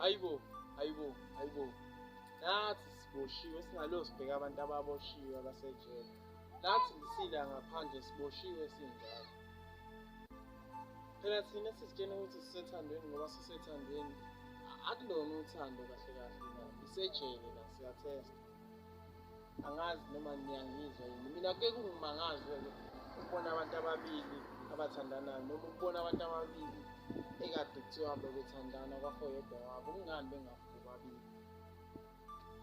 ayibo ayibo ayibo nathi siboshiwe singalo sibheka abantu ababoshiwe abasejele nathi lisila ngaphandle siboshiwe sinjalo phela thina sizitshena ukuthi sisethandweni ngoba sisethandweni akulona uthando kahle kahle isejele la siyathesta angazi noma niyangizwa yini mina ke kungimangaze ke ukubona abantu ababili abathandanayo noma ukubona abantu ababili ekade kuthiwa bebethandana kwafoyedwa wabo kungani bengafuki babili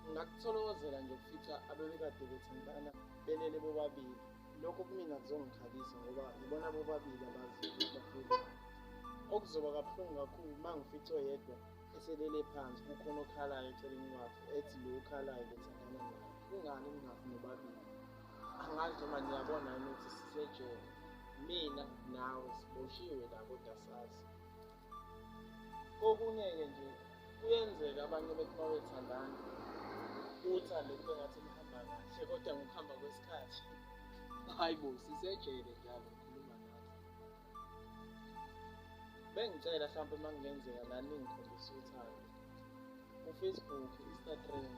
ngingakutholozela nje ukufica abebekade bethandana belele bobabili lokho kumina kuzongikhalisa ngoba yibona bobabili abaziyo ukuthi bafuna okuzoba kabuhlungu kakhulu uma ngificwe yedwa eselele phansi kukhona okhalayo eceleni kwakhe ethi lo okhalayo bethandana naye kungani ningafi nobabili angazi noma niyabona yini ukuthi sisejele mina nawe siboshiwe la kodwa sazi kokunye-ke nje kuyenzeka abanye bethi uma bethandana uthande kube ngathi kuhamba kahle kodwa ngokuhamba kwesikhathi hayi bo sisejele njalo bengicela mhlawumpe uma kungenzeka nani ngikhombisa uthando ufacebook instagram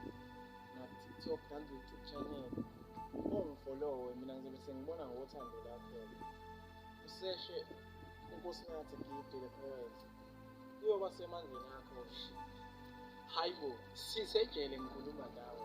nakutiktok nangu-youtube channel ungifolowe mina ngizobe sengibona ngothando lakhona useshe unkosinathi gide le poet kuyoba semandleni akho hhayi bo sisejele ngikhuluma nawe